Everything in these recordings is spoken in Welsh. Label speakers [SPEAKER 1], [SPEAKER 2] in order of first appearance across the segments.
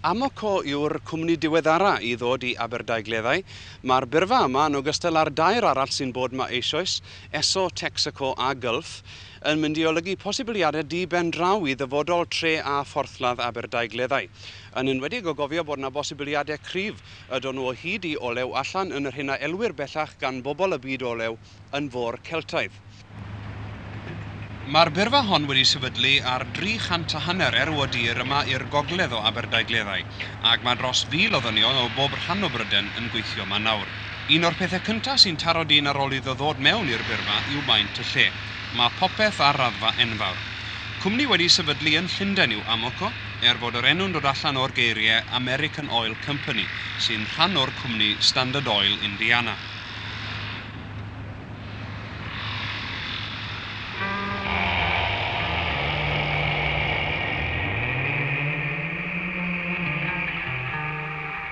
[SPEAKER 1] Amoco yw'r cwmni diweddara i ddod i Aberdaugleddau. Mae'r byrfa yma, yn ogystal â'r dair arall sy'n bod 'ma eisoes, Esso, Texaco a Gulf, yn mynd i olygu posibiliadau di-ben draw i ddyfodol tre a phorthladd Aberdaugleddau. Yn enwedig o gofio bod 'na bosibiliadau cryf Ydon nhw o hyd i olew allan yn yr hyn a elwir bellach gan bobl y byd olew yn fôr Celtaidd. Mae'r byrfa hon wedi sefydlu ar dri chant a hanner erw o dir yma i'r gogledd o Aberdaugleddau, ac mae dros fil o ddynion o bob rhan o Bryden yn gweithio yma nawr. Un o'r pethau cyntaf sy'n taro dyn ar ôl iddo ddod mewn i'r byrfa yw maint y lle. Mae popeth ar raddfa enfawr. Cwmni wedi sefydlu yn Llundain yw Amoco, er fod yr enw'n dod allan o'r geiriau American Oil Company, sy'n rhan o'r cwmni Standard Oil Indiana.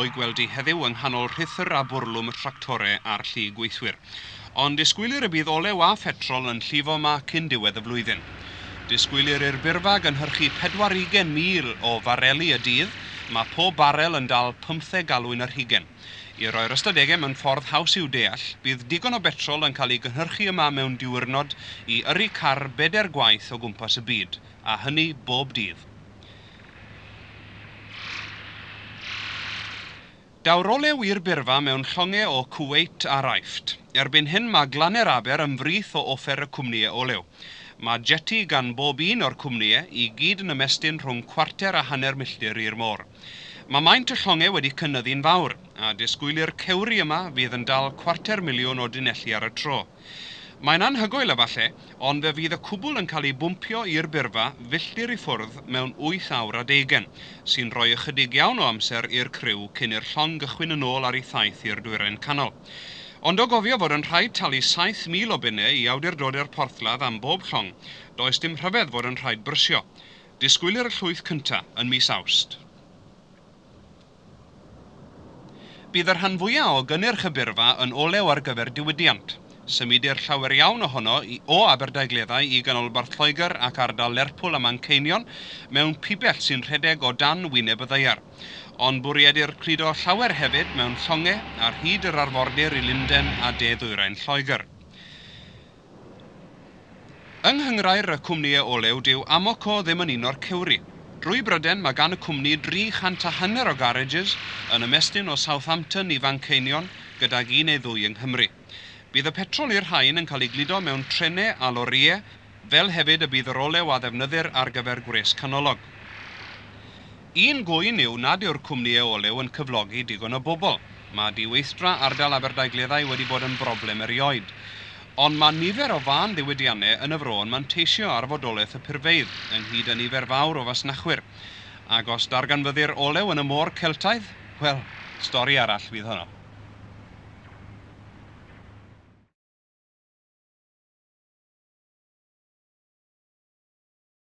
[SPEAKER 1] o'i gweld hi heddiw yng nghanol rhuthr a bwrlwm y tractore a'r llu gweithwyr. Ond disgwylir y bydd olew a phetrol yn llifo ma cyn diwedd y flwyddyn. Disgwylir i'r byrfa gynhyrchu pedwar ugen mil o fareli y dydd, mae pob barel yn dal pymtheg galwyn yr hugen. I roi'r ystadegau mewn ffordd haws i'w deall, bydd digon o betrol yn cael ei gynhyrchu yma mewn diwyrnod i yrru car bedair gwaith o gwmpas y byd, a hynny bob dydd. Daw'r olew i'r byrfa mewn llongau o Kuwait a Raifft. Erbyn hyn mae Glanau'r Aber yn frith o offer y cwmnïau olew. Mae jeti gan bob un o'r cwmnïau, i gyd yn ymestyn rhwng cwarter a hanner milltir i'r môr. Mae maint y llongau wedi cynyddu'n fawr, a disgwylir cewri yma fydd yn dal cwarter miliwn o dunelli ar y tro. Mae'n anhygoel efallai, ond fe fydd y cwbl yn cael ei bwmpio i'r byrfa filltir i ffwrdd mewn wyth awr a deugain, sy'n rhoi ychydig iawn o amser i'r criw cyn i'r llong gychwyn yn ôl ar ei thaith i'r Dwyrain Canol. Ond o gofio fod yn rhaid talu 7,000 o bunnau i awdurdod i'r porthladd am bob llong, does dim rhyfedd fod yn rhaid brysio. Disgwylir y llwyth cyntaf yn mis Awst. Bydd y rhan fwya' o gynnyrch y byrfa yn olew ar gyfer diwydiant. Symudir llawer iawn ohono i o Aberdaugleddau i ganolbarth Lloegr ac ardal Lerpwl a Manceinion mewn pibell sy'n rhedeg o dan wyneb y ddaear. Ond bwriedir cludo llawer hefyd mewn llongau ar hyd yr arfordir i Lundain a de-ddwyrain Lloegr. Yng nghynghrair y cwmnïau olew dyw Amoco ddim yn un o'r cewri. Drwy Bryden mae gan y cwmni 300 a hanner o garages yn ymestyn o Southampton i Fanceinion gydag un neu ddwy yng Nghymru. Bydd y petrol i'r rhain yn cael ei gludo mewn trenau a lorïau fel hefyd y bydd yr olew a ddefnyddir ar gyfer gwres canolog. Un gŵyn yw nad yw'r cwmnïau olew yn cyflogi digon o bobl. Mae diweithdra ardal Aberdaugleddau wedi bod yn broblem erioed. Ond mae nifer o fân ddiwydiannau yn y fro yn manteisio ar fodolaeth y purfeydd, ynghyd â nifer fawr o fasnachwyr. Ac os darganfyddir olew yn y môr Celtaidd, wel, stori arall fydd honno.